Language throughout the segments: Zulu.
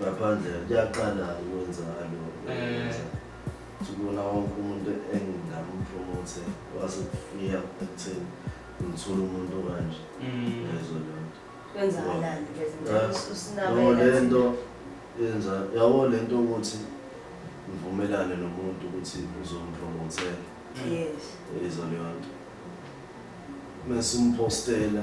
ngaphandle kuyaqala ukwenzakalo eh. sibona wonke umuntu engingampromothe wase kufika ekutheni ngithole umuntu okanje mm. yezo lonto kwenzakalani le nto yenza yabo le nto ukuthi ngivumelane nomuntu ukuthi uzompromotela yezo leyo nto mesimpostela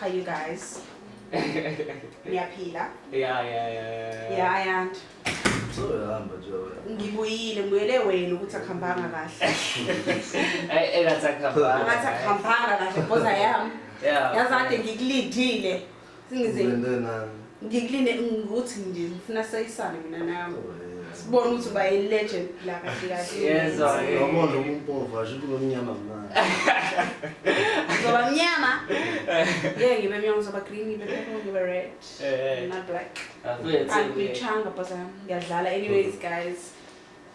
Hi you guys. Ngiyaphila. Yeah, yeah, yeah. Yeah, I am. Sohamba nje wena. Ngibuyile ngibuyele wena ukuthi akuhambanga kahle. Ay, engathi akuhambanga. Ngathi akuhambanga kahle boza yami. Yeah. Yazi kade ngikulindile. ngikulinde ngikuthi nje ngifuna sayisane mina nawe sibone ukuthi uba yi-legend la kahle kahleyezwayabona umpova sho kuba mnyama mnani uzoba mnyama ye ngibe mnyama uzoba green ngibe purple ngibe red eh, eh. not black angichanga bhazam ngiyadlala anyways guys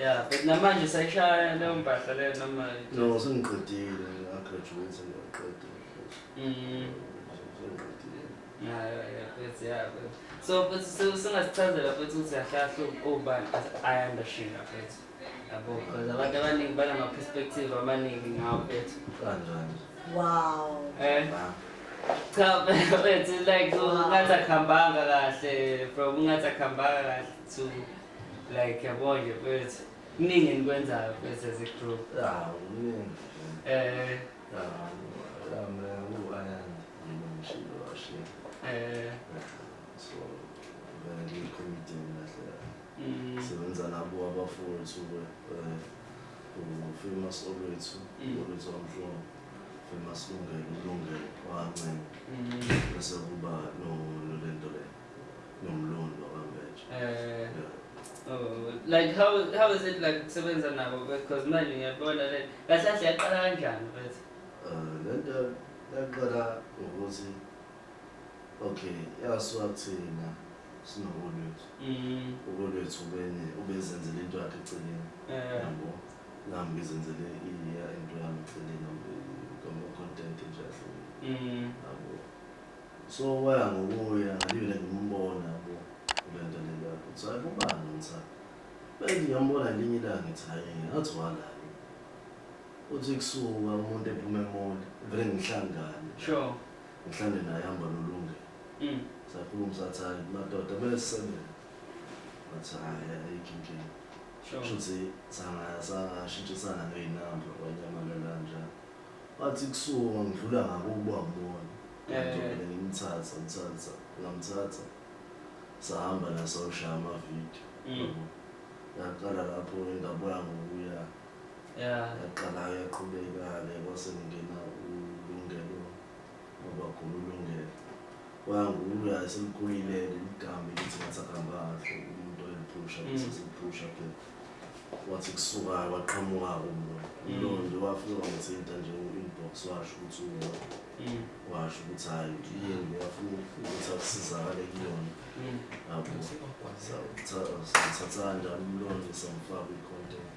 Yeah, but namanje sayishaya leyo mpahla leyo noma No, sengiqedile, ngiyagraduate ngiyaqieda. Mm. Sengiqedile. Yeah, yeah, yeah, that's yeah. But, so but so singasichazela futhi ukuthi ahlahlu ubani ayanda shinga futhi. Yabo, because abantu abaningi banama-perspective amaningi ngawo bethu. Kanjani? Wow. Eh? Wow. Cha wethu like ungathi akuhambanga kahle from ungathi akuhambanga kahle to like yabo nje wethu. Kuningi enikwenzayo wethu as a group. Ah, kuningi. Eh. Ah, lambe uAyan ngimshilo washe. Eh. So, ngiyikhomitini. ngisebenza nabo abafowethu ufamous olwethu olwethu wamhlongo famous lungelo ulungelo wancela bese kuba nolento le nomlondi wakambeje Oh, like how how is it like kusebenza nabo because manje ngiyabona le kahle kahle yaqala kanjani mfethu um lento yaqala ngokuthi okay yasuka kuthina sinobolwethu mm. ubolwethu ubene ubezenzele into yakhe eceleni eh. yabo nami ngizenzele iya into yami eceleni ngoma content nje ahlukile mm. yabo so waya ngokuya ngalibele ngimbona yabo kule nto leyo ukuthi hayi kubani ngithanda bese ngiyambona ngelinye ilanga ngithi hayi ngathi wala uthi kusuka umuntu ephuma emoli vele ngihlangane sure Ngihlale naye hamba nolunge. Mm. Sakhuluma sathi hayi madoda kumele sisebenze. Wathi hayi ayikho inkinga. Sure. Shuthi sanga sangashintshisana ngeyinamba kwanyamalala njalo. Wathi kusuka ngidlula ngabo ukuba ngibona. Eh. Ngidlule ngimthatha ngimthatha ngamthatha. Sahamba nasoshaya ama video. Mm. Yaqala lapho indabuya ngokuya Yeah. yaqala yaqhubeka-ke kwase kungena ulungelo wabagula ulungelo wangula selikhulile-ke ligambe lithi ngathi akuhamba kahle umuntu oyiphusha Mm. bese siphusha ke wathi kusukayo waqhamuka-ke umlo Mm. ulondi wafika wamthinta nje u-inbox washo ukuthi uwa Mm. washo ukuthi hhayi iyembe yafuna ukuthi akusizakale kuyona Mm. yabo Sa- sa- sathatha kanjani umlondi samfaka i-content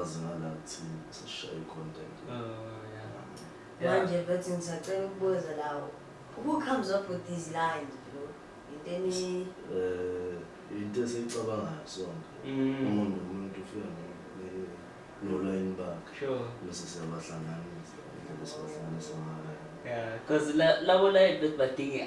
azingala kuthini sashaye content oh yeah manje bethi ngisacela ukubuza lawo who comes up with these lines bro into eni eh into esicabangayo sonke mm. umuntu umuntu ufika nolayini bakhe sure bese siyabahlanganisa bese sibahlanganisa ngayo yeah because labo layini bethi badinga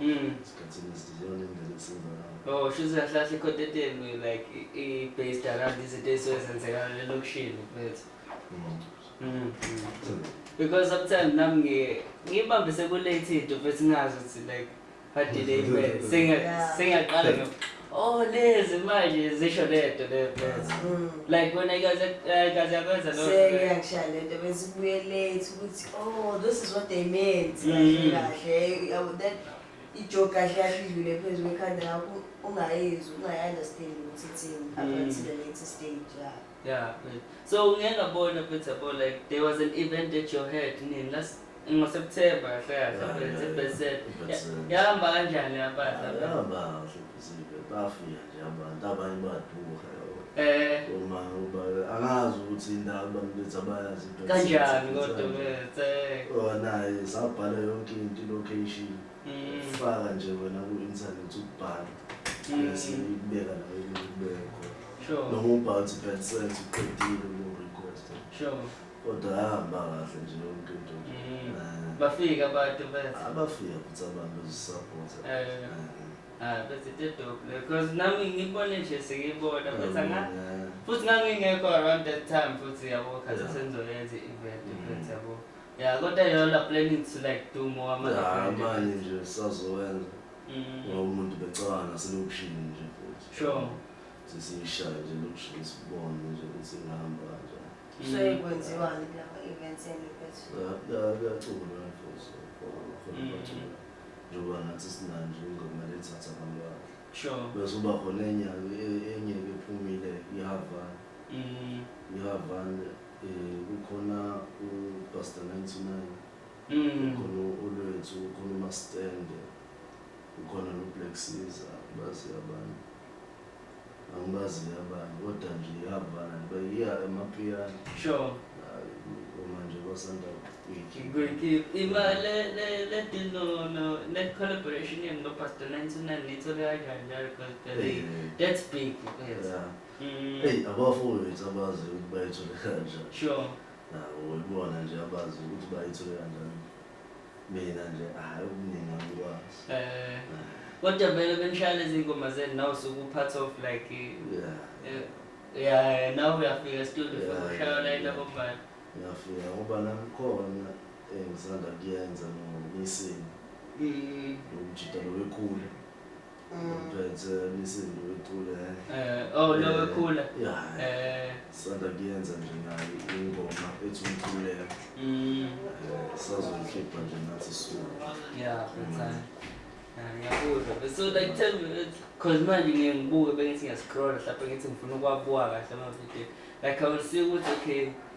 Mm. Esikhathini esiziyona indlela esiza ngayo. Oh, shuthi kahlahla i-content yenu like i- i-based around izinto ey'suke zenzekana elokishini mfethu. Mm. Mm. So, Because sometimes nami ngi- ngibambise ku-late into mfethu ngingazi ukuthi like badelay imali. Senga- Yeah. Sengiyaqala nge- Oh lezi manje zisho lento le mfethu. Mm. Like wena ikaze ikaze yakwenza lo. Seyakshaya lento bese ubuye late ukuthi oh this is what they meant. Mm. Kahle uh, that ijoke kahle yahlidlule phezulu ekhanda lakho ungayizwa ungayi understand ukuthi ithini up until the latest stage. Yeah. Yeah, good. So ngeke ngabona futhi yabo like there was an event at your head nini last ngoSeptember kahle kahle Yeah, but it's yeah, a best set. yeah. Best set. Yahamba kanjani yabaza? Ayahamba kahle ibhizinisi bafika nje abantu abanye baduka yabo. Eh Uma uba angazi ukuthi indawo abantu bethi abayazi ibhizinisi. kanjani kodwa Kanjani. bese? Oh naye sabhala yonke into i-location. faka nje wena ku-internet ukubhala bese ibeka nayo ikubeka khona noma ubhala ukuthi bad sense uqedile uyorequesta kodwa yahamba kahle nje yonke into bafika abantu bethu abafika futhi abantu zisapota Ah, bese tedope because nami ngibone nje sengibona bese nga futhi ngangingekho around that time futhi yabo khathi senzoyenza i-event futhi yabo Yeah, kodwa yona planning to like do more ama Hayi manje nje sazowenza Mm. ngoba umuntu becabanga naselokishini nje futhi. Sure. Sesiyishaya nje lokishini sibone nje ukuthi ingahamba kanjani. Mm. Kusuke kwenziwani kulama events enu mfethu? Ya- ya- Kuyaculwa futhi khona khona Mm. bacula. Njengoba nathi sinanje ingoma lethatha abantu bakhe. Sure. Bese uba khona enye enye ephumile iHavan. Mm. iHavan Eh kukhona uBasta 99 kukhona uLwethu kukhona uMastende kukhona noBlack Caesar bazi abantu angibazi abanye kodwa nje yavana bayiya emapiyani sure uma nje basanda kuyikhipha ima le le le dino no net collaboration yenu noPastor 99 nithola kanjani because that's big yeah Mm. Hey, abafowethu abazi ukuthi bayithole kanjani. Sure. Nawo ibona nje abazi ukuthi bayithole kanjani. Mina nje hayi okuningi angikwazi. Eh. Kodwa vele benishaya lezi ngoma zenu nawe usuke upart of like yeah. Eh, yeah, nawe uyafika studio yeah, ushaya la into bombayo. Ngiyafika ngoba nangikhona engisanda eh, kuyenza no missing. Mm. Lo mjita lo wekhulu. Ngiphethe imisindu icule. Eh, oh lo wekhula. Yeah. Eh, Sanda kuyenza nje nayo ingoma ethi umkhuleko. mm, Eh, Sazoyikhipha nje nathi soon. yeah, mfana. Ah, ngiyakuzwa. But So like tell me that- cause manje ngiye ngibuke bengithi ngiyascrolla hlampe ngithi ngifuna ukuwabuka kahle ama-video. Like I will see ukuthi okay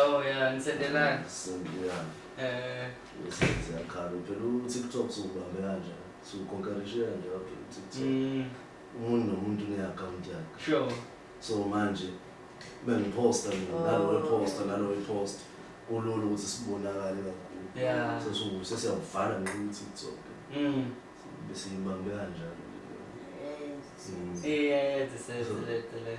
Oh yeah, ngisendelani. Sendelani. Eh, usenze yakhala phela uTikTok siwubambe kanje. Siwukonkarishe kanje lapho uTikTok. mm, Umuntu nomuntu une-account yakhe. sure. So manje bengiposta mina nalo weposta nalo weposta. Kulula ukuthi sibonakale kakhulu. Yeah. So siwu- sesiyawuvala nje uTikTok. Mm. Besiyibambe kanjalo. Eh, Mm. yeah, yeah, this is it, the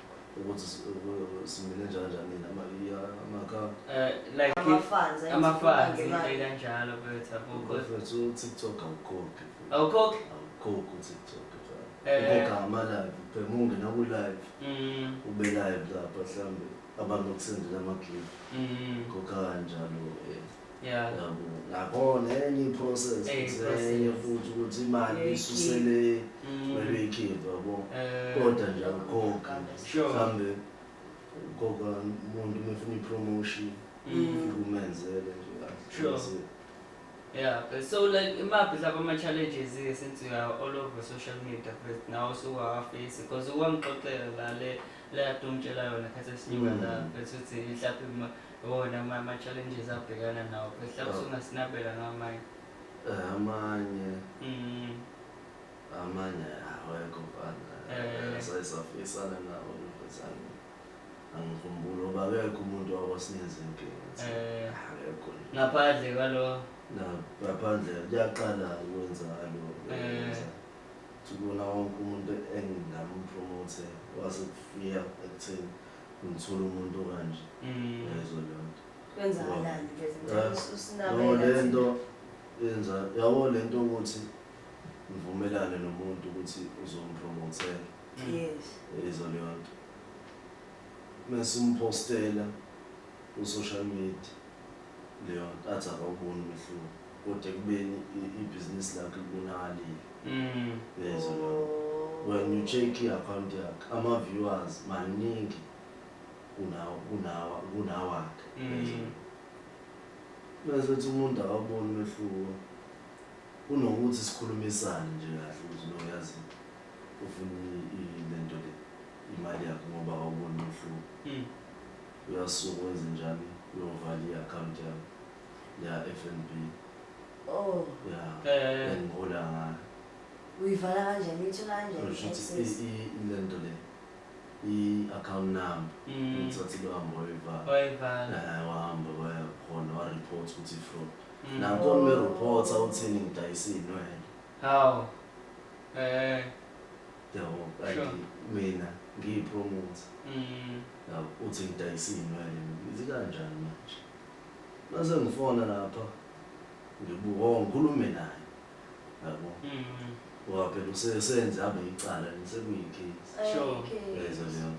ukuthi simile njalo njani amaka eh, like ama-fans ama-fans into kanjalo bethu akukho mfethu uTikTok awukhokhi awukhokhi awukhokhi uTikTok eh. ukhokha ama-live phela ungena ku-live mm. ube live lapha mhlawumbe abantu okusendela ama-clip mm. khokha kanjalo um Yeah. Yabo, Nakhona enye i-process Enye futhi, i-process. enye futhi ukuthi imali Uyoyikhipha. isusele Mm. kumele uyikhiphe yabo. Eh, Kodwa nje akukhokhi. Sure. Mhlambe ukhokha umuntu uma efuna i-promotion Mm. ufike umenzele nje kahle. Sure. That's it. Yeah, but so like imaphi lapha ama-challenges ke since you are all over social media first nawe usuwafisi because ukwangixoxela la le leyadumtshela yona khathi esinyuka la Mm. bethi uthi mhlawumbe uma wona oh, mama challenges abhekana nawo phela oh. usungasinabela ngamanye eh, amanye mm. amanye awekho mfana eh. sasafisana nawo nokuzana angikhumbula uba akekho umuntu wakwasinikeza inkinga eh. akekho ngaphandle kwalo ngaphandle kuyaqala ukwenza alo kubona wonke umuntu engingampromothe wasekufika ekutheni ngithola umuntu okanje Mm. yezo lento Kwenzakalani ke Eh, no sinabela. lento yenza yabo lento ukuthi ngivumelane nomuntu ukuthi uzompromothela Mm. Yes. yezo lento mesimpostela ku social media leyo athi akawuboni umehluko kodwa ekubeni i- ibhizinisi lakhe libonakalile Mm. yezwa leyo when you check i-akhawunti yakhe ama-viewers maningi kunawo kunawa kunawakhe yezwa Mm. bese kuthi umuntu akawuboni umehluko kunokuthi sikhulumisane nje kahle ukuthi no yazi ufuna i- i- lento le imali yakhe ngoba awuboni umehluko Mm. Uyasuka wenze njani? Uyovala i-akhawunti yami ya-F and B. Oh, Ya, Eh. engihola ngayo. uyivala kanjani? Uyithola kanjani? Kusho ukuthi i-access? i- ile nto le i-akhawunti number Mm. ngithathe lohambo wayivala Wayivala. Eh, wahamba waya khona wareport ukuthi i-fraud Mm. nanko ngimereport awuthini ngidayisa iy'nwele Hawu. Eh. yabo like Sure. mina ngiyipromote Mm. yabo uthi ngidayisa iy'nwele ngithi kanjani manje mase ngifona lapha ngibuka oh, ngikhulume naye yabo Mm. ngoba phela usesenze abe yicala ngisekuyicase Eh, Sure. okay. yezwa leyo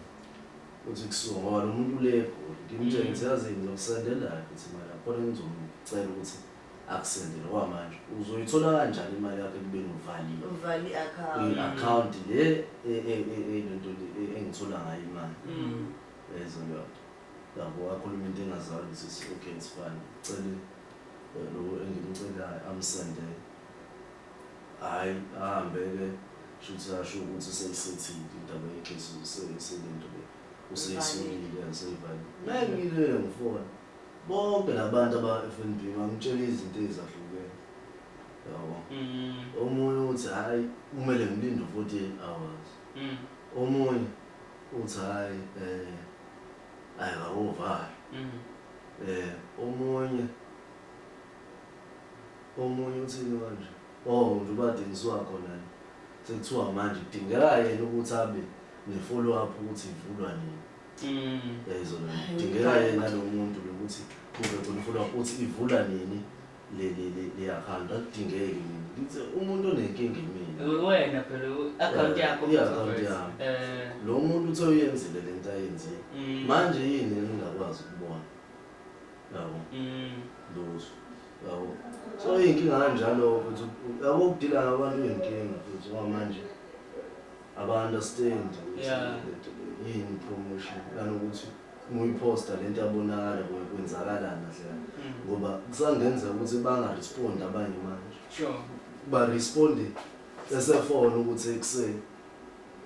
uthi kusuka ngoba lo muntu le egoli ngimtshengise yazi ngizokusendela ukuthi mara khona engizomcela ukuthi akusendele kwamanje uzoyithola kanjani imali yakho ekubeni uvalile uvale i-account i-account le e- e- e- e- lento le e- engithola ngayo imali Mm. ezo leyonto yabo wakhuluma into engazali ukuthi it's okay it's fine cele eh, lo engimcelayo amsende hhayi ahambe-ke shuthi asho ukuthi seyisethile indaba yejesu selento le useyisolile seyivalile ngeke ngilele ngifona Bonke labantu abaFNB bangitshela izinto ezahlukene. Yabo. Mm. Omunye uthi hayi kumele ngilinde 48 hours. Mm. Omunye uthi hayi eh hayi bawovala. Mm. Eh omunye omunye uthini manje? Oh nje ubadingiswa khona nje. Sekuthiwa manje kudingeka yena ukuthi abe ne follow up ukuthi ivulwa nini. Mm. Yayizona. Dingeka yena lo muntu lokuthi kube khona ufuna uthi ivula nini le le le le account akudingeki mina. Ngithe umuntu onenkinga mina. Wena phela i-account yakho Yeah, Mfo i-account Fethu. yami. Eh, Lo muntu uthe uyenzile le nto ayenzile. mm, Manje yini engingakwazi ukubona? Yabo. mm, lutho yabo so iy'nkinga kanjalo futhi yabo ukudila ngabantu iy'nkinga futhi ngoba manje aba understand yeah. yini promotion nanokuthi muyiposta lento yabonakala kwenzakalana dlela mm. ngoba kusangenzeka ukuthi bangarespondi abanye manje sure baresponde esefona ukuthi ekuseni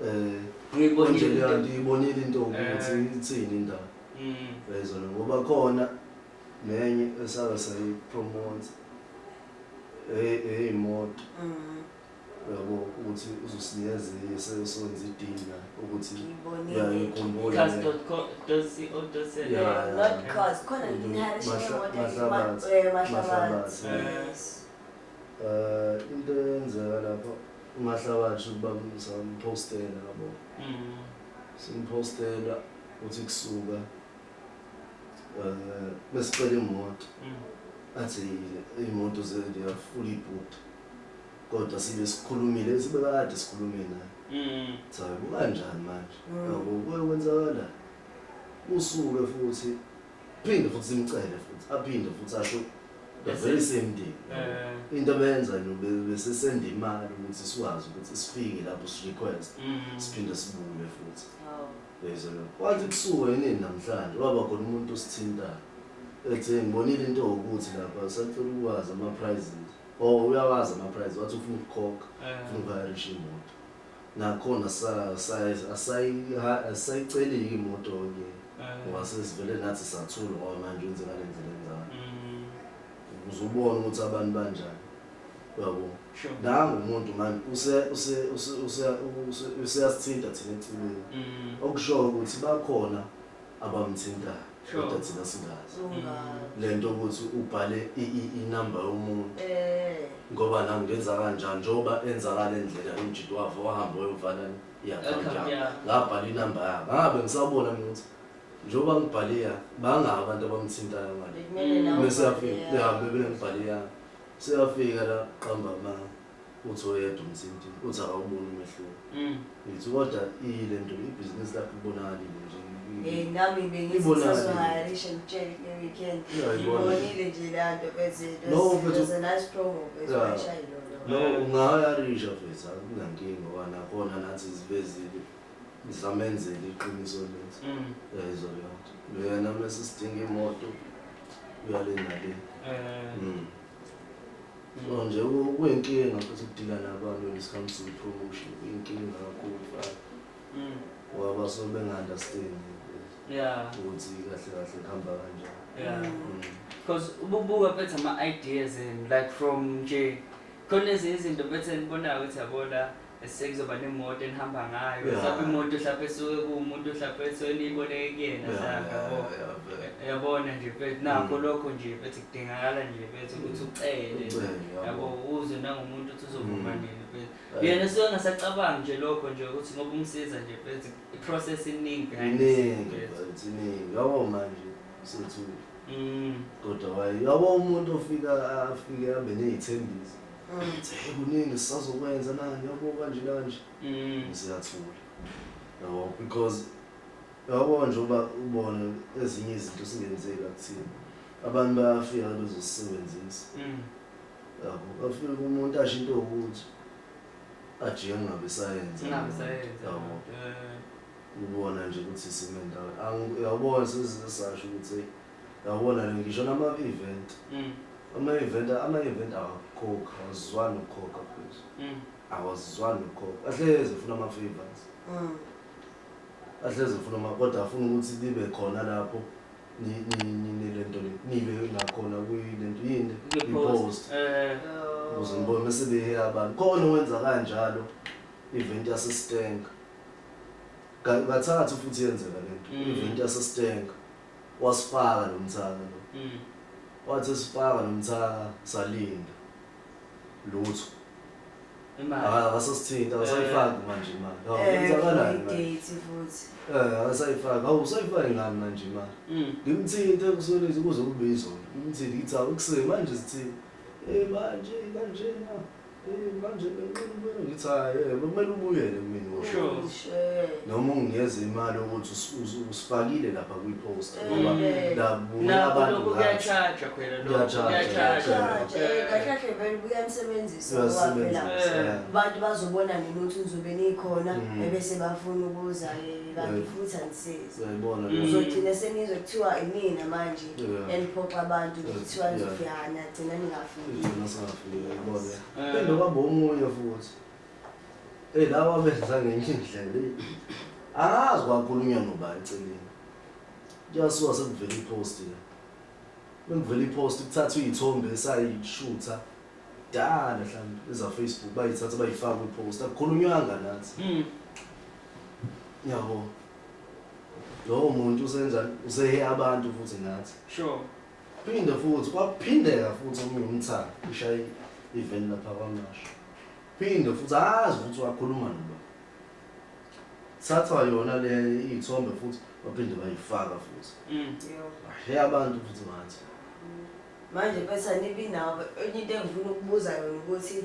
eh ngiyibonile ngiyibonile into ukuthi eh. ithini indaba mm. yayizona ngoba khona nenye esaka sayipromote eh eh imoto mm. yabo ukuthi uzosinikeza enye sesonza idini la ukuthi uyayikhumbula um into eyenzeka lapho ungahlabathi ukuba samphostela yabo mm. simphostela uthi kusuka um besicela imoto mm. athi iyimoto zeyafula ibhuda kodwa sibe sikhulumile bese bebakade sikhulume naye mm. so kukanjani manje mm. yabo kuye kwenzakala usuke futhi phinde futhi simcele futhi aphinde futhi asho the very same day eh. into benza besesenda imali ukuthi sikwazi ukuthi sifike lapho sirequest mm. siphinde sibuye futhi oh. bezolo kwathi kusuke yini namhlanje waba khona umuntu osithintayo ethe ngibonile into ukuthi lapha sacela ukwazi ama prizes Oh uyawazi ama price wathi ufuna ukukhokha, Eh. ufuna ukuhayirisha imoto. Nakhona sa sa asayi asayiceleki imoto ke. Eh. Ngoba sesivele nathi sathula ngoba manje wenze ngale ndlela enjalo. Mm, Ukuze ubone ukuthi abantu banjani. Uyabo? sure. Nangu umuntu manje use use use use use- useyasithinta thina eceleni. Mm, Okushoyo ukuthi bakhona abamthintayo Sure. kodwa thina singazi Ungazi. le nto ukuthi ubhale i- i- inamba yomuntu Eh, ngoba la ngenza kanjani njengoba enza ngale ndlela umjito wakhe wahamba wayovana i-akhawunti Account yakhe yakhe. ngabhala inamba yakhe ngabe ngisabona mina ukuthi njengoba ngibhale yakhe bangaki abantu abamthintayo ngale bekumele nawe bese yafika ubhale yakho. behambe benengibhale yakhe seyafika la qamba manga uthi oyedwa umthinti uthi akawuboni umehluko mm. ngithi kodwa ile nto ibhizinisi lakho libonakalile nje eh, nami bengizisazohayarisha ngitshele kule weekend ngibonile nje la nto bezethosenaispromobezoshayilo no ungahayarisha fethu akunankinga wanakhona nathi zivezile ngisamenzela iqiniso lethu mm. yayizwa leyo nto leyana mese sidinga imoto uyale nale eh. mm. No nje kuyinkinga futhi ukudila nabantu when it comes to promotion kuyinkinga kakhulu fana mm. ngoba basuke benga-understand yeah. ukuthi kahle kahle kuhamba kanjani yeah. mm. because ububuka bethu ama-ideas and like from nje khona ezinye izinto bethe nibonayo ukuthi yabona sekuzoba nemoto enihamba ngayo Yeah. mhlawumbe imoto mhlawumbe esuke kuwumuntu mhlawumbe esuke niyiboleke kuyena Yeah, mhlawumbe yeah, yabo yeah, yeah. yabona nje mfethu nakho Mm. lokho nje mfethu kudingakala nje mfethu ukuthi ucele Ucele, yabo. yabo uzwe nangomuntu ukuthi uzovuma Mm. nini mfethu Yeah. yena suke ngasacabangi nje lokho nje ukuthi ngoba umsiza nje mfethu i-process iningi behind the scenes, iningi mfethu. mfethu iningi yabo manje sethu Mm. kodwa waye yabo umuntu ofika afike abe ney'thembiso Ngithi hey kuningi sisazokwenza nani yabo kanje kanje. Mm. Ngiseyathula. Yabo because yabo nje uba ubone ezinye izinto singenzeka kuthina. Abantu bayafika bezosebenzisa. Mm. Yabo bafika umuntu asho into ukuthi ajike ngabe sayenza. Ngabe sayenza. Yabo. Eh. Ubona nje ukuthi simendawo. Angiyabona sesizasho ukuthi Yabona le ngisho nama event. Mm. Ama event ama event awakhoka awazizwani ukhoka please. Mm. Awazizwani ukhoka. Ahleze funa ama favors. Mm. Ahleze funa ama kodwa afuna ukuthi libe khona lapho ni ni ni ni lento le. Nibe ngakhona kuyi lento yini? Ngi post. Eh. Uze ngibone sebe abantu. Khona wenza kanjalo event yase Stenga. Kathathu futhi yenzeka lento. Mm. Event yase Stenga. wasifaka lo mthaka lo Mm. wathi sifaka lo mthaka salinda lutho Imali. Aka- akasasithinta akasayifaki manje imali Hawu, Eh, kwenzakala yini manje? Date futhi. Eh, akasayifaki hawu usayifaki ngani manje imali Mm. ngimthinte kusolezi kuze kube izolo ngimthinte ngithi awu ekuseni manje sithini um manje kanjena manje nginqinile ngithi hayi eh, kumele ubuyele kumina noma unginikeze imali ukuthi usifakile lapha kwi-post eh. ngoba labuya abantu kuyatshaja phela lokuyatshajakahlahle vele buyamsebenzisa ngobaphela abantu bazobona nini ukuthi ngizobe nikhona mm. ebese bafuna ukuza kanti eh, futhi angisizi uzogcina senizwe kuthiwa imina manje eniphoxa abantu kuthiwa nizofihana gcina ningafi Pende kwabo omunye futhi. Hey lawa benza ngenye indlela. Angazi kwakhulunywa nobani celeni. Kuyasuka sekuvela ipost ke. Bengivela ipost kuthathwa izithombe esayishutha. Dala mhlawumbe eza Facebook bayithatha bayifaka kwipost. Akukhulunywanga nathi. Mm. Yabo. Lowo muntu usenza usehe abantu futhi nathi. Sure. Phinde futhi kwaphindeka futhi omunye umthaka ushaye iveni lapha kwamasho. Phinde futhi azi ukuthi wakhuluma noba. Thathwa yona le iy'thombe futhi baphinde bayifaka futhi. Mm. He abantu futhi ngathi. Manje bese nibi nawo enye into engifuna ukubuza yona ukuthi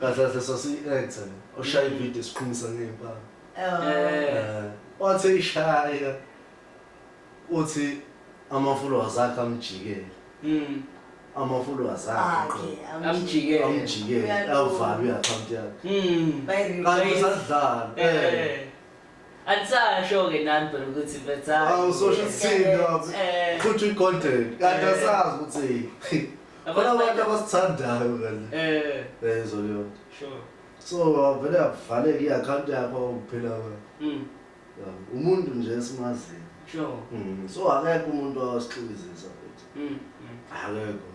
Kahle kahle sasiyi-actor le. Oshaya ivideo siqhumisa ngey'mpama. Eh, Wathi eyishaya uthi ama-followers akhe amjikele. Mm. Ama-followers akhe Akhe, qobo. amjike. Amjikele. Amjikele, Uyalunga. avalwe i-akhawunti yakhe. Mm. Bayi-remove. Kanti usadlala. Eh. Eh. Andisasho ke nani phela ukuthi betha. Awusosho ukuthini lapho. Eh. Futhi uyigodeni. Kanti Eh. asazi ukuthi Khona abantu abasithandayo kanti. Eh, Eh zoliyona. sure. So avele avaleke i-account yakho awuphila kwayo. Mm, Umuntu nje esimaziyo. sure. Mm, So akekho umuntu osixikizisa futhi. Mm, mm. Akekho.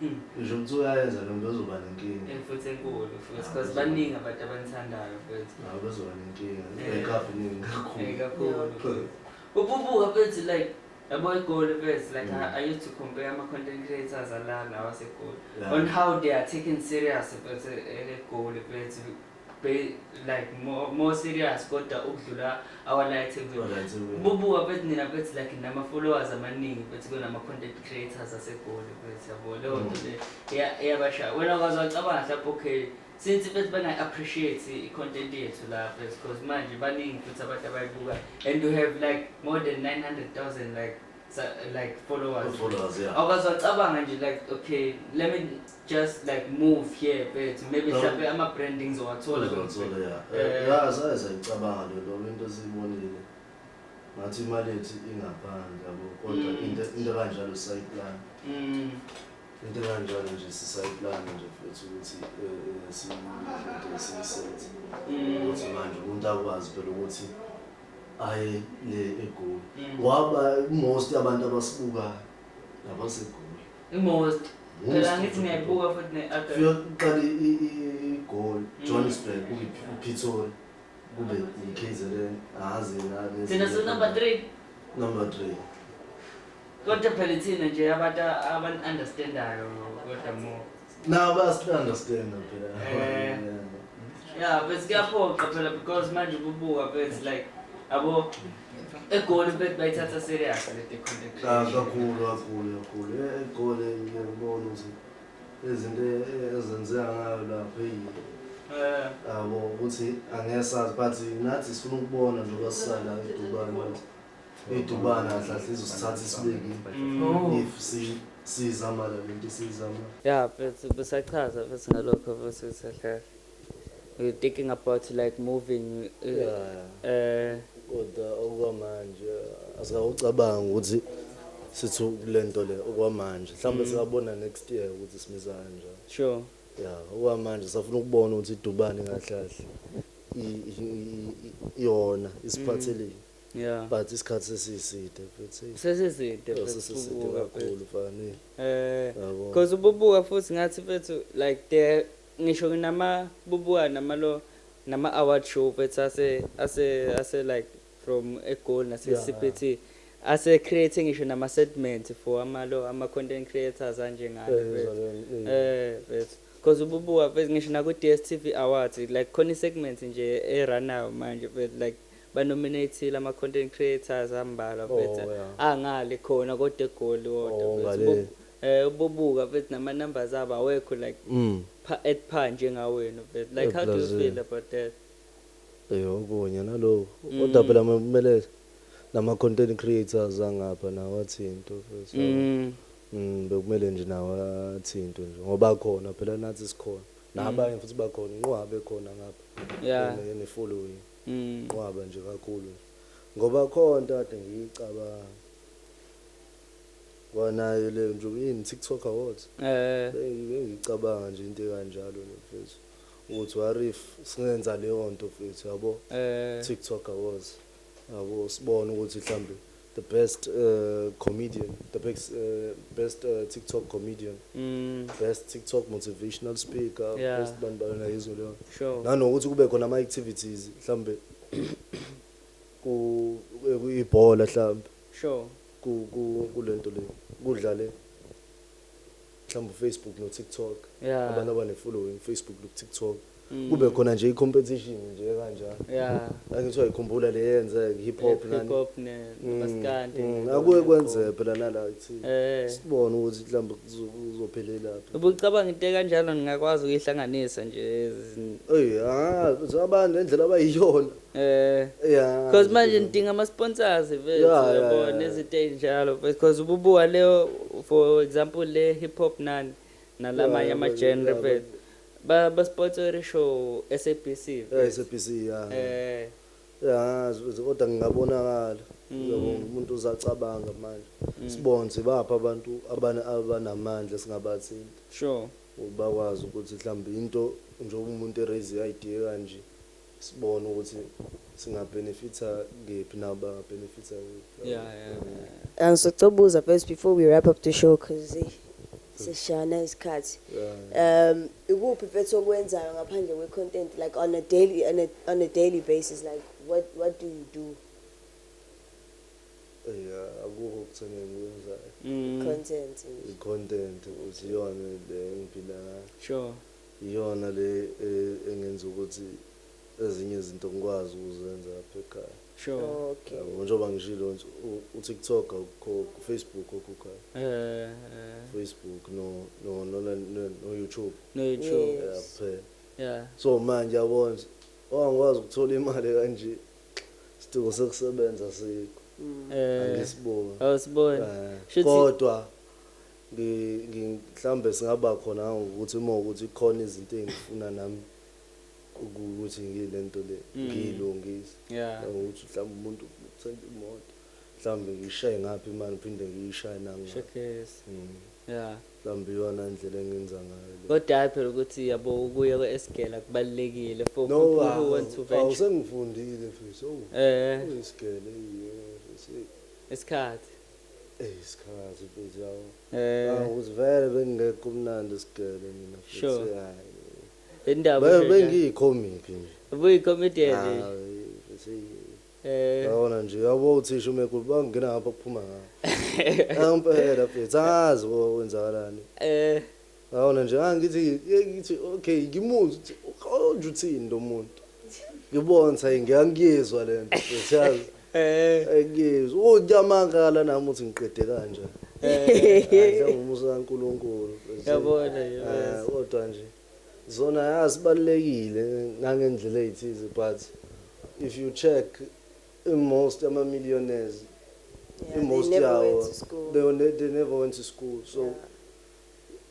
Mm. ngisho ukuthi uyayenza lo mntu ozoba nenkinga and futhi enkulu futhi Ah, because uzwa. baningi abantu abanithandayo futhi nawe bezoba nenkinga Eh. ekafu ningi Eh, kakhulu kakhulu futhi. ububuka futhi like yabo egoli futhi like Mm. I, i used to compare ama-content creators alana wasegoli Yeah. on how they are taken serious futhi egoli futhi Be- like more, more serious kodwa ukudlula our light Kodwa nje mina- bubuka bethi nina bethi like nama followers amaningi bethi kunama content creators asegoli bethi yabo leyo Mm. nto le iya- iyabashaya wena kwazi wacabanga mhlawumbe okay since bethi bana appreciate i content yethu la bethi because manje baningi futhi abantu abayibuka and you have like more than 900,000 like sa- like followers Followers, yeah. awukaze wacabanga nje like okay let me just like move here bethu maybe No. mhlawumbe ama-branding ngizowathola Uzothola, yeah. Eh, Eh, ya, saye sayicabanga le nto, into esiyibonile. Ngathi imali yethu ingaphandle, yabo. Kodwa Mm. into into kanjalo sisayiplan. mm, Into kanjalo nje sisayiplan nje futhi ukuthi eh, eh, si- into esiyisenze. mm. Ukuthi manje umuntu akwazi phela ukuthi aye le egoli mm. ngoba most abantu abasibukayo nabasegoli most phela ngithi ngiyayibuka futhi ne-adult uyoqala igoli mm. johannesburg kuyiphithole kube yikhezelen azi thina sinumber three number three kodwa phela ithina nje abantu abantu-understandayo kodwa more Now best understand phela. Eh. Yeah, but kuyaphoqa phela because manje ububuka phezu like abo egoli bet bayithatha serious le deconnection. Cha kakhulu kakhulu kakhulu. Eh, egoli ngiyabona ukuthi izinto ezenzeka ngayo lapho eyi eh. abo ukuthi angesazi but nathi sifuna ukubona njengoba sisala edubane idubana kahle izosithatha isibeke Oh. if si- sizama la lento esiyizama Yeah, futhi besachaza futhi ngalokho futhi usahlala. We're thinking about like moving uh, Yeah. eh kodwa okwamanje asingawucabanga ukuthi sithi kule nto le okwamanje mhlawumbe singabona next year ukuthi simiza kanjani sure. ya okwamanje safuna ukubona ukuthi idubane kahle kahle i- i- i- i- yona isiphatheleni Yeah. But isikhathi sesiside futhi. eyi, Sesiside oh, futhi sesiside ubuka futhi. kakhulu fani. Eh, Yabo. cause ububuka futhi ngathi fethu like the ngisho nama bubuka nama lo nama award show fethu ase ase ase like from eGoli nase Yeah. CPT ase create ngisho nama segment for ama lo ama content creators anje ngani Eh, fethu. ngizwa- eh. Eh, fethu. Cause ububuka fethu ngisho naku DStv awards like khona i segment nje e runayo manje fethu like Ba nominate-ile ama content creators ambalwa mfethu Oh, yeah. angale khona kodwa egoli wodwa Oh, mfethu. ngale. Ubo- eh ubobuka mfethu nama numbers abo awekho like Mm. pha at par njengawenu mfethu like how do you Eplazini. feel about that Eh okunye naloko. Mm. Kodwa phela kumele nama content creators angapha nawo athinto futhi. mm. Mm bekumele nje nawo athinto nje ngoba khona phela nathi sikhona. Nabanye futhi bakhona inqwabe khona ngapha. yeah Ene following. nqwaba nje kakhulu nje ngoba khona kade ngiyicabanga Ngoba nayo le njengoba yini TikTok Awards eh bengicabanga nje into ekanjalo nje mfethu ukuthi what if singenza leyo nto mfethu yabo eh TikTok Awards yabo sibone ukuthi mhlambe The best comedian, the best, uh, best uh, TikTok comedian, mm. best TikTok motivational speaker, yeah. best bani bani na izwe leyo. Sure. Nanokuthi kube khona ama activities mhlambe ku ibhola mhlambe. Sure. Ku ku kulento le. Kudlale mhlawumbe ufacebook notiktok yeah. abantu abanefollowing ufacebook nokutiktok mm. kube khona nje i-competition nje kanjalo yeah. angithiwa ikhumbula le yenze hip hop akuye kwenzeka phela nala kuthi eh. sibone ukuthi mhlawumbe kuzophelelaphi ubucabanga into ekanjalo ningakwazi ukuyihlanganisa nje eyi abantu nendlela abayiyona Eh Yeah. Cause manje nidinga ama sponsors Yeah, vethu yeah, yabo yeah, yeah. nezinto ezinjalo because ububuka leyo for example le hip hop nani nalamanye Yeah, ama but- genre yeah, but- vethu ba ba sponsor show SABC Yeah, vethu. SABC yeah. eh Yeah, z- z- kodwa ngingabonakala. Mm. Yabo umuntu uzacabanga manje. Sibonze bapha abantu abana abanamandla singabathinta. sure Ubakwazi ukuthi mhlawumbe into njengoba umuntu eraise idea kanje. sibone ukuthi singa benefita kephi nabo banga benefita kephi yeah, yeah, yeah. Um, so cobuza first before we wrap up the show cause eh, sishana isikhathi um ikuphi mfethu okwenzayo ngaphandle kwe content like on a daily on a, on a daily basis like what what do you do yeah akukho kuthenge ngikwenzayo mm. content content uziyona le ngiphila sure Iyona le engenza ukuthi ezinye izinto ngikwazi ukuzenza lapha ekhaya. Yabo njengoba ngishilo nje uTiktok awukhokhi, uFacebook okhokhayo. Facebook no no no no YouTube. No YouTube. Yeah kuphela. Yeah. So manje yabo nje ongikwazi ukuthola imali kanje sidingo sokusebenza sikho. Angisiboni. Awusiboni. Kodwa Ngi, ngi, mhlawumbe singaba khona kangangokuthi uma ukuthi kukhona izinto engifuna nami uku, ukuthi ngile nto le, Mm. ngiyilungise. Yeah. Kangangokuthi mhlawumbe umuntu ufuna ukuthenga imoto, mhlawumbe ngiyishaye ngapha imali ngiphinde ngiyishaye nangale. Shekes. Mm. Yeah. Mhlawumbe iyona indlela engenza ngayo le. Kodwa hhayi phela ukuthi yabo ukuya kwesigela kubalulekile for No, people who want to awu, awu venture. sengifundile mfethu, awu, Eh, kuyisigele, eyi, mfethu, eyi. isikhathi. Ey skhazi mfethu yabo. Eh. Ah ukuthi vele bengekho umnandi sigele mina mfethu. Sure. Hayi. Indaba nje. Bengiyi comic nje. Ubuyi comedian nje. Hayi mfethu. Eh. Yabona nje yabo uthisha umekulu bangena ngapha kuphuma ngapha. Ampela mfethu azi wenzakalani. Eh. Yabona nje angithi ah, ngithi okay ngimuzwe ukuthi uqonda uthini lo muntu. Ngibona ukuthi hayi ngiyangiyizwa le nto. Siyazi. Eh. Ngiyizwa. Unyamangala nami uthi ngiqede kanje. Eh. Ngumusa kaNkuluNkulu. Yabona yabona. Kodwa nje zona yasibalekile ngangendlela ezithize but if you check in most ama millionaires yeah, in most yawo they, they never went to school so yeah.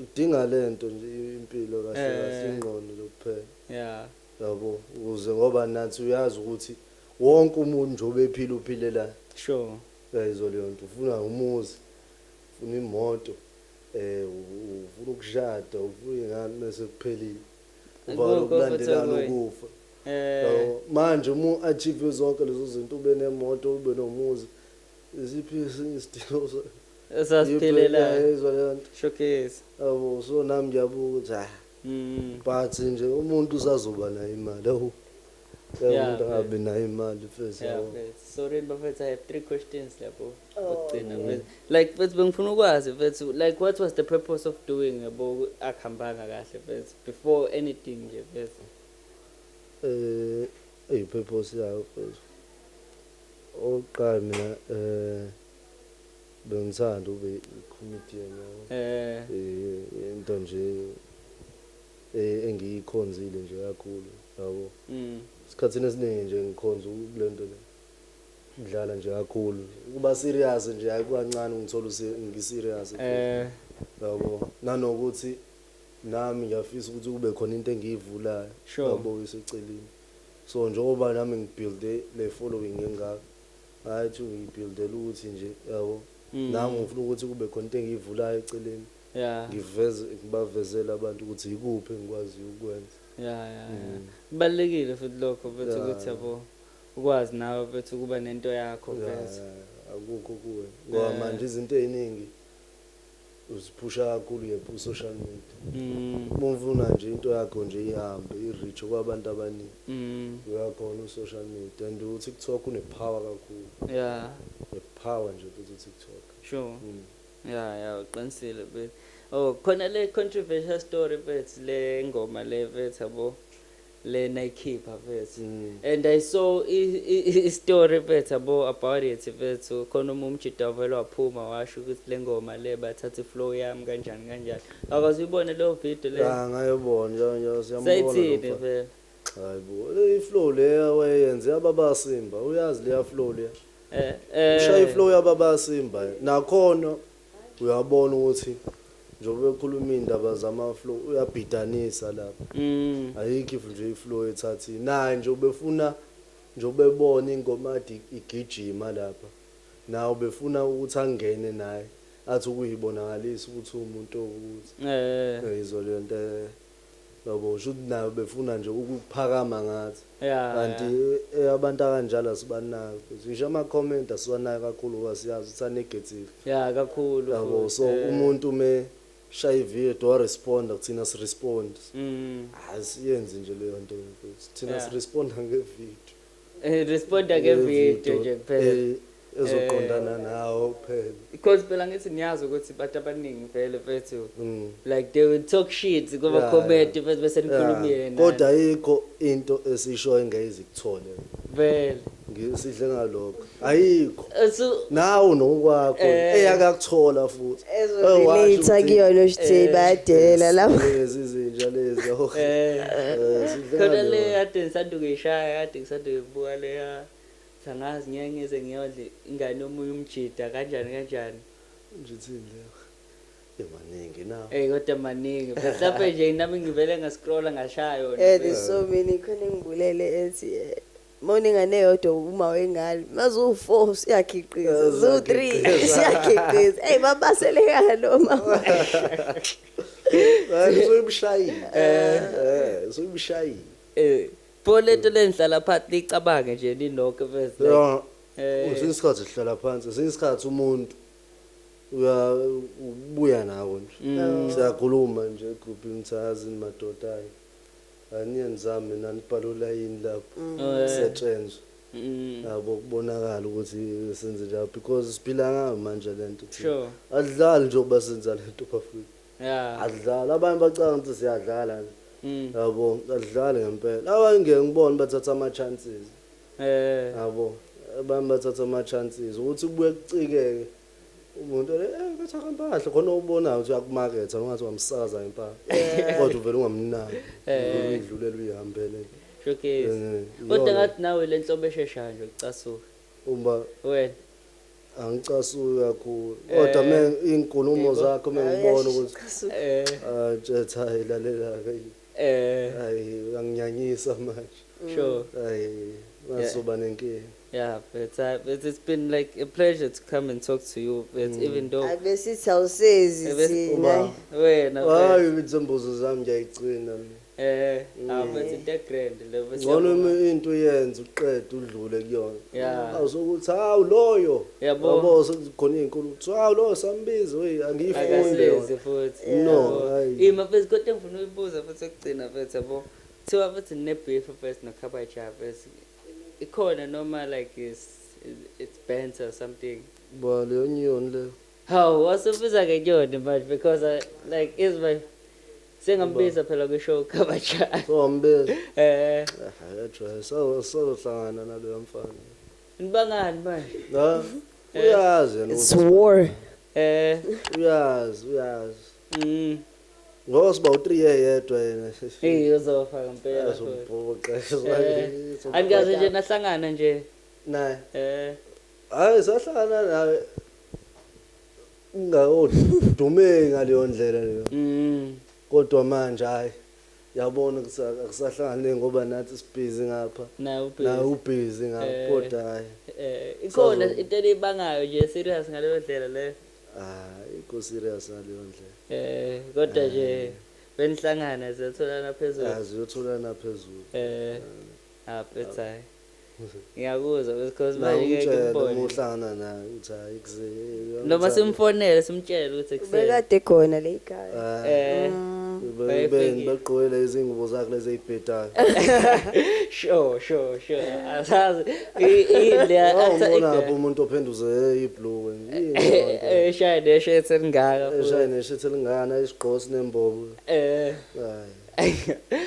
udinga lento nje impilo kahle kahle eh. ingqondo nje kuphela yeah yabo ukuze ngoba nathi uyazi ukuthi wonke umuntu nje obephila uphilela sure yayizwa leyo nto ufuna umuzi ufuna imoto eh ufuna ukushada ufuna ingane mase kuphelile uvala ukulandelana ukufa eh manje uma achieve zonke lezo zinto ube nemoto ube nomuzi isiphi isidingo Esasiphelela. Yizwa leyo nto. Showcase. Yabo so nami ngiyabuka ukuthi ah. Mm. But nje umuntu usazoba nayo imali. Awu. Yeah, Yeah, umuntu angabi nayo imali mfethu. Yeah, yabo. mfethu. Sorry bafethu, I have three questions lapho. Ukugcina mfethu. Like mfethu bengifuna ukwazi mfethu, like what was the purpose of doing yabo akuhambanga kahle mfethu before anything nje mfethu. Eh, ey purpose yayo mfethu. Oqala mina eh Bengithanda ube i-comedian yabo. Eh. Eh into nje eh engiyikhonzile nje kakhulu yabo. Mm. Isikhathini esiningi nje ngikhonza kulento le. Ngidlala nje kakhulu. Kuba serious nje hayi kwancane ngithola ngiserious. Eh. Yabo. Nanokuthi nami ngiyafisa ukuthi kube khona into engiyivulayo. Yabo iseceleni. So njengoba nami ngibuilde le following engaka. Hayi ithi ungiyi buildela ukuthi nje yabo nangu ngifuna ukuthi kube khona into engiyivulayo eceleni ngiveze ngibavezele abantu ukuthi yikuphi engikwaziyo ukwenza. Ya ya ya kubalulekile futhi lokho mfethu ukuthi yabo ukwazi nawe mfethu ukuba nento yakho mfethu. Akukho kuwe ngoba manje izinto eziningi Uziphusha kakhulu yep ku social media uma ufuna nje into yakho nje ihambe i reach kwabantu abaningi uya khona u social media and u TikTok une power kakhulu Yeah. ne power nje futhi u TikTok. Sure. Ya ya uqinisile mfethu. Oh khona le controversial story mfethu le ngoma le mfethu yabo. le nayikhipha mfethu and I saw i story mfethu yabo about it mfethu khona uma umjita wavele waphuma washo ukuthi lengoma le bathatha i flow yami kanjani kanjani akaze uyibone leyo video le ya ngayobona nje nje siyambona sayithini mfethu hayibo i flow le wayenze yababasimba uyazi leya flow le eh eh ushaya i flow yababasimba nakhona Uyabona ukuthi njengoba ekhuluma iyndaba zama flow uyabhidanisa lapha ayikho if nje iflow ethathini naye nje ubefuna njengoba ebona ingoma kade igijima lapha naye ubefuna ukuthi angene naye athi ukuyibonakalisa ukuthi uwumuntu owukuthi uyayizwa leyonto. Yabo shuthi nabo befuna nje ukuphakama ngathi Yeah, kanti yeah. eh, abantu akanjalo asibanaki mfethu. Ngisho ama comment asiwanaki kakhulu ngoba siyazi ukuthi a negative. Yeah, kakhulu Yabo futhi. so eh. umuntu me shaya ivideo do responder kuthina si respond. Mm. Asiyenzi nje leyo nto mfethu. Thina Yeah. si responder nge video. Eh, responda Eh, ngevideo video, nje kuphela eh, ezoqondana nawo kuphela because phela ngithi niyazi ukuthi bantu abaningi vele mfethu Mm. like they will talk shit Yeah, kumakhomenti mfethu bese nikhuluma Yeah. yena kodwa ayikho into esisho engeyizikuthole vele ngisidle ngalokho ayikho Esu- nawo nokwakho Eh. eyakakuthola futhi Ezo Eh, washo relate ukuthi- kuyona ukuthi Eh, bayadelela lapho. lezi zinja lezi oh, eh, eh, zidla khona ngani le wena? kade ngisanda ukuyishaya kade ngisanda uyibuka leya sangazi ngeke ngize ngiyodle ingane yomunye umjida kanjani kanjani Ngithini leyo? Yemaningi nawo. eyi kodwa maningi mhlawumpe nje nami ngivele ngascrolla ngashaya yona Eh there's so many khona engibulele ethi eh, Uma unengane eyodwa uma wengane, uma ziwu-four usuyakhiqiza, ziwu-three usuyakhiqiza. Eyi babaselekana lo mama. Uzoyimshayile. Eh, eh uzoyimshayile. Eh. Pho lento lenhlala phansi licabange nje ninonke first like. Yeah. Eh. Uzinye isikhathi sihlala phansi, uzinye isikhathi umuntu uya ubuya nawo nje. Mm. Siyakhuluma nje group imthazi madoda ayi. Aniyenzanga mina nibhala olayini lapho setrenzwa yabo kubonakala ukuthi senze njani because siphila ngayo manje lento thina. Sure. Asidlali nje ukuba senza lento bafwethu. Yeah. Asidlali abanye bacanga ukuthi siyadlala nje. Yabo asidlali ngempela. Abanye ngeke ngibone bathatha ama chances. Eh. Yabo abanye bathatha ama chances ukuthi kubuye kucikeke. umuntu eh, kathaka mpahla khona ubonayo ukuthi uyakumaketha ungathi wamsakaza impahla kodwa uvele ungamnaki uyidlulela uyihambele showcase Eh, kodwa iyona. ngathi nawe le nhlobo esheshayo nje ukucasuka uma wena angicasuki kakhulu kodwa me iy'nkulumo zakho me ngibona ukuthi eh ah, ntshetha hayi lalela-ke eh hayi uyanginyanyisa manje sure hayi ngazoba nenkinga Yeah, but uh, but it's been like a pleasure to come and talk to you. But mm. even though abesithi awusezi thina wena hayi imizombuzo zami ngiyayigcina eh mm. abethi into grand level ngcono into uyenza uqede udlule kuyona yeah awusokuthi hawu loyo yabo sekukhona izinkulu ukuthi hawu loyo sambiza wey angiyifunde futhi no ima phezulu kodwa ngifuna uyibuza futhi ukugcina futhi yabo thiwa futhi nebeef first nokhaba java Ikhona noma like is it's banter or something. Ba leyo nyoni leyo. Hawu wasubiza ngenyoni manje because I, like is my sengambiza phela kwi show kabajani. So wambiza. Eh. Ayajwa so so hlangana naloya mfana. Nibangani manje? La. Uyazi yena. It's war. Eh. Uyazi uyazi. Mm. Ngoba siba u3 yedwa yena. Hey uzofa ngempela. Azobhuqa. Angikaze nje nahlangana nje. Naye. Eh. Hayi sahlangana naye. Ungayodume ngaleyo ndlela leyo. Mm. Kodwa manje hayi yabona kusahlangane ngoba nathi sibhizi ngapha na ubhizi ngapha eh, kodwa hayi eh, ikhona into elibangayo nje serious ngaleyo ndlela leyo Hayi ko serious ngaleyondlela. Eh kodwa nje benihlangana ziyatholana phezulu. Ah ziyotholana phezulu. Eh ah phetha hayi. Ngiyakuzwa because manje ngeke ngibone. Uma uhlangana naye uthi hayi kuze. Noma simfonele simtshele ukuthi ekuseni. Bekade khona le ikhaya. Ah, eh. Bebeni begqoyile izingubo zakhe lezi ezibhedayo. Sho sho sho. Asazi. Ile athi. Ubona umuntu ophenduze iblue. eshaye nesho ethelingaka eshaye nesho ethelingana isigqosi nembobo eh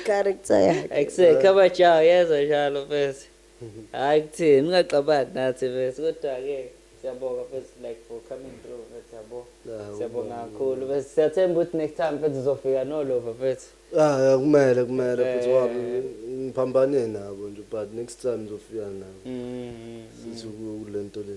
character yakhe akuseka abajawu yezwa njalo mfethu hayi kuthini ungaxabani nathi mfethu kodwa-ke siyabonga mfethu like for coming through mfethu yabo siyabonga kakhulu mfethu siyathemba ukuthi next time mfethu uzofika nolova mfethu ah kumele kumele mfethu eh. wabi ngiphambane nabo nje but next time uzofika nabo mm, mm, mm. sithi kulento le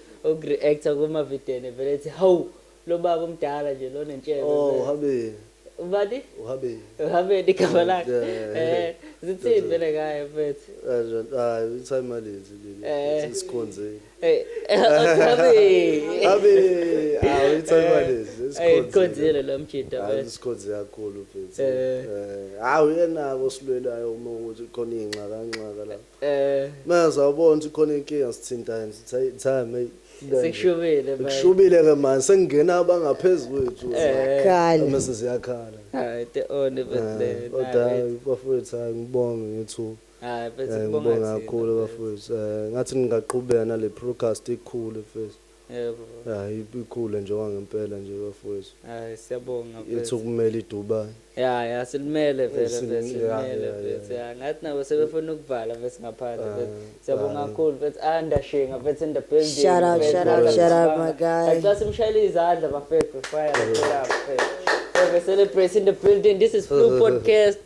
Uk reactor kuma videne vele ethi hawu lobaba umdala nje lona ntshebe. Oh uhabeni. Ubani? Uhabeni. Uhabeni igama lakhe. Eh zithini vele ngaye mfethu. Kanjani hayi uthi imalenzi leli eh. sikhonze. Eh uhabeni. Habe hayi uthi imalenzi sikhonze. Eh sikhonzile lo mjita mfethu. Hayi sikhonze kakhulu mfethu. Eh hayi uyenako silwelayo uma ukuthi khona ingxaka ngxaka la. Manje sawubona ukuthi khona inkinga sithintaye ngithi hayi time hey into enje. Sekushubile manje. Kushubile ke manje sekungena abangaphezulu kwethu. Khala. Mase siyakhala. Hayi te on Bethlehem. Odayi bafowethu hayi ngibonge ngethuba. Hayi bese Eh, ngibonga kubonga thina. kakhulu bafowethu Eh, ngathi ningaqhubeka nale podcast ikhule mfethu Yebo. Yah ikhule nje okwangempela nje bafowethu. Ay siyabonga mfethu. Ithi ukumele iDubai. Ya ya silimele vele Sim- mfethu ya, silimele ya, mfethu ya. ya ngathi nabo sebefuna ukuvala mfethu ngaphandle Ah, mfethu siyabonga ah. kakhulu mfethu ah ndashinga mfethu in the building Shut up, mfethu, shut up, mfethu, shut up, sibanga. my guy. Kanti xa simshayela izandla bafethu fire shut up mfethu Feve celebrate in the building this is Flu podcast